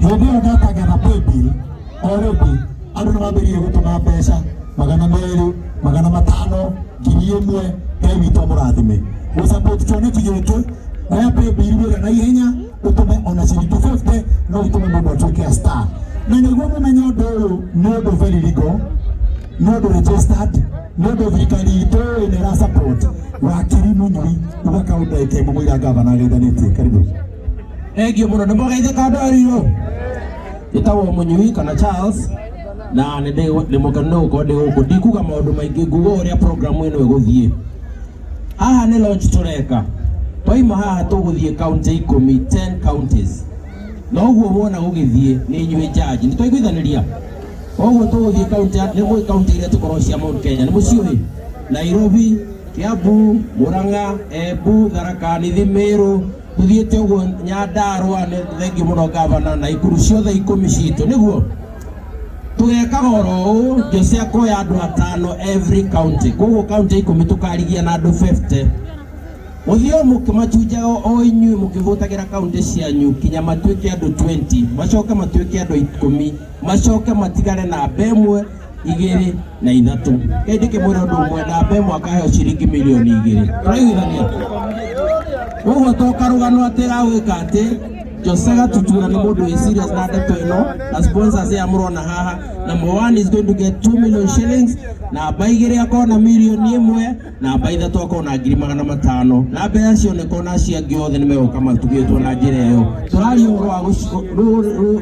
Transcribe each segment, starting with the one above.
hĩndĩ ĩyo ndakagera paybill o rĩngĩ andũ nĩ mambĩrĩire gũtũma mbeca magana merĩ magana matano ngiri ĩmwe ngai witũ amũrathime gũsupport kĩoneki gĩkĩ oya paybill wĩra na ihenya ũtũme ona ciringi 50 no ũtũme mũndũ atuĩke a star na nĩguo mũmenye ũndũ ũyũ nĩ ũndũ very legal nĩ ũndũ registered nĩ ũndũ thirikari itũ ĩĩ nĩ ĩra support wakiri mũnyui uga kaundu ĩkemũmũira ngavana ageithanĩtie karibu Thank you mũno nĩ mũgeithĩ kando arirwo ĩtagwo mũnyui kana Charles na nĩ ndĩ- nĩ mũkenu nĩ gũkorwo ndĩ gũkũ ndikuga maũndũ maingĩ nguga ũrĩa programu ĩno ĩgũthiĩ haha nĩ launch tũreka twaima haha tũgũthiĩ county ikũmi 10 counties na ũguo wona gũgĩthiĩ nĩ inyuĩ jaji nĩ twaiguithanĩria koguo tũgũthiĩ kaunti nĩ mũĩ kaunti iria tũkoragwo cia Mount Kenya nĩ mũciũĩ Nairobi Kiambu Murang'a Embu Tharaka Nithi Meru tuthiĩte ũguo nyandarũa nĩ thengi mũno ngavana na ikuru ciothe ikũmi citũ nĩguo tũgekaga oro ũũ jose akoya andũ atano every county koguo county ikũmi tũkarigia na andũ 50 ũthiũ mũkĩmacunjaga o inyuĩ mũkĩhũtagĩra kaunti cianyu kinya matuĩke andũ 20 macoke matuĩke andũ ikũmi macoke matigare na mbe ĩmwe igĩrĩ na ithatũ kaindĩ kĩmwĩra ũndũ ũmwe na mbe ĩmwe akaheo ciringi milioni igĩrĩ tũraiguithania ũguo to karũgano atĩ ya gwĩka atĩ Jose Gatutura nĩ mũndũ wĩ serious na ndeto ĩno na sponsors ya mũrona haha number one is going to get 2 million shillings namba igĩrĩ akorwo na milioni ĩmwe namba ithatũ akorwo na ngiri magana matano na mbeca cioneka ona acio angĩ othe nĩ megũka matugĩtwo na njĩra ĩyo tũraria ũhoro wa gũci- rũ- rũ-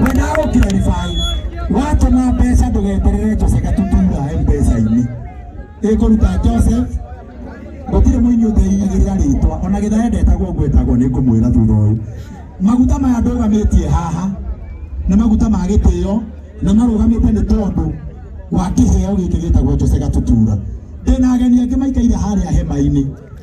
mwena wa gũkiraribai watũma mbeca ndũgeterere jose gatutura mbeca-inĩ ĩkũruta joseph gũtirĩ mũini ũteigĩrĩra rĩtwa ona gĩtha endetagwo ũguo etagwo nĩ ngũmwĩra thutha ũyũ maguta maya ndũgamĩtie haha nĩ maguta ma gĩtĩo na marũgamĩte nĩ tondũ wa kĩheo gĩkĩ gĩtagwo jose gatutura ndĩna ageni angĩ maikaire harĩa hema-inĩ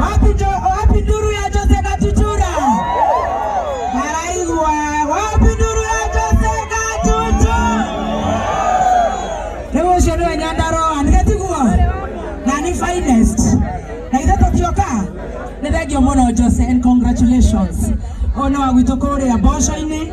Wapi jo- wapi nduru ya Jose Katuchura? Maraigwa, wapi nduru ya Jose Katuchura? Rĩu ũcio nĩwe Nyandarũa, nĩ getiguo? Na nĩ finest. Na ithe tũkĩoka, nĩ thengiũ mũno Jose and congratulations. Ũyũ nĩ wa gwitũ kũrĩa mboco-inĩ.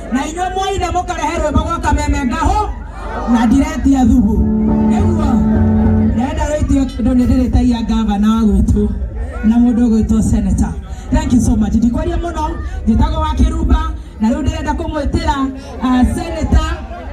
na inyuĩ mwoine mũkarehe rwĩmbo gwa kameme ngahũ na ndiretia thubu nĩguo ndĩrenda rũitio kĩndũ nĩ ndĩrĩtagia ngavana wa gwitũ na mũndũ ũgwĩtwo seneta thank you so much ndikwaria mũno njĩtagwo wa kĩrumba na rĩu ndĩrenda kũmwĩtĩra uh, seneta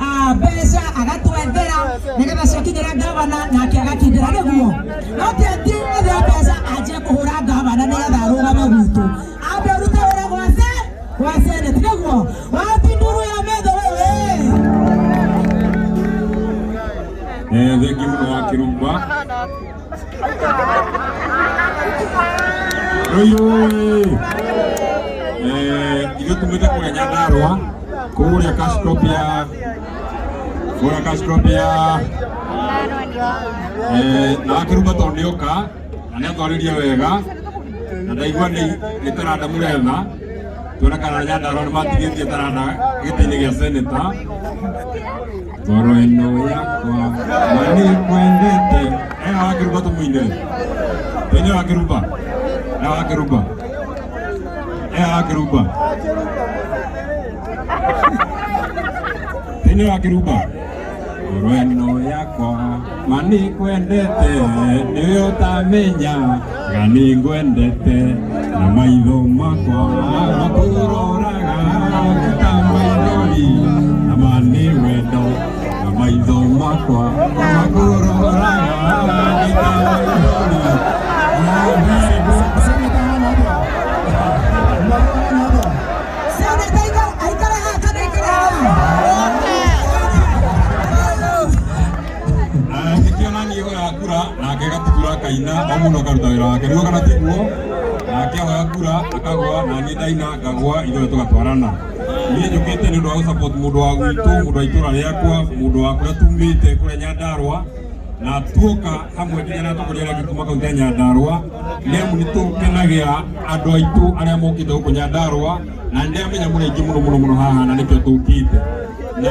ah, mbeca agatwethera nĩgetha ciakinyĩra ngavana nake agakindĩra nĩguo no ti atĩ ethe mbeca anjie kũhũra ngavana nĩgetha arũgame gwitũ ambe arute wĩra gwa se gwa senate nĩguo wapi nduru ya metho wewe Eh, thank you mũno wa kĩrumba Oyoi! Eh, ithuĩ tumĩte kũrĩa Nyandarũa kũrĩa Kashkopia kũrĩa Kashkopia eh, na akĩruga tondũ nĩ oka na nĩ atwarĩria wega na ndaigua nĩ nĩ taranda mũretha tuona kana Nyandarũa nĩ matigĩtie taranda gĩtĩ-inĩ gĩa seneta ngoro ĩno yakwa na nĩkwendete ena wakĩruba tũmũine ene wakĩruba ena wakĩruba ena wakĩruba ene wakĩruba ngoro ĩno yakwa mani kwendete nĩ ũtamenya na nĩ ngwendete na maitho makwa makũroraga ta maithori na mani wendo na maitho makwa makũroraga nĩ ta maithori nĩkĩo nani hoya kura nake gatutura akaina o mũndũ akaruta wĩra wake nĩguo kana tiguo nake hoya kura akagwa na niĩ ndaina ngagwa ithuothe tũgatwarana niĩ njũkĩte nĩ ũndũ wa gũsupport mũndũ wa gwitũ mũndũ wa itũra rĩakwa mũndũ wa kũrĩa tumĩte kũrĩa nyandarwa na tuoka hamwe nginya na atongoria arĩa angĩ kuma kaunti ya nyandarwa nĩ amu nĩ tũkenagĩra andũ aitũ arĩa mokĩte gũkũ nyandarwa na nĩ ndĩramenya mũrĩ aingĩ mũno mũno mũno haha na nĩkĩo tũkĩte na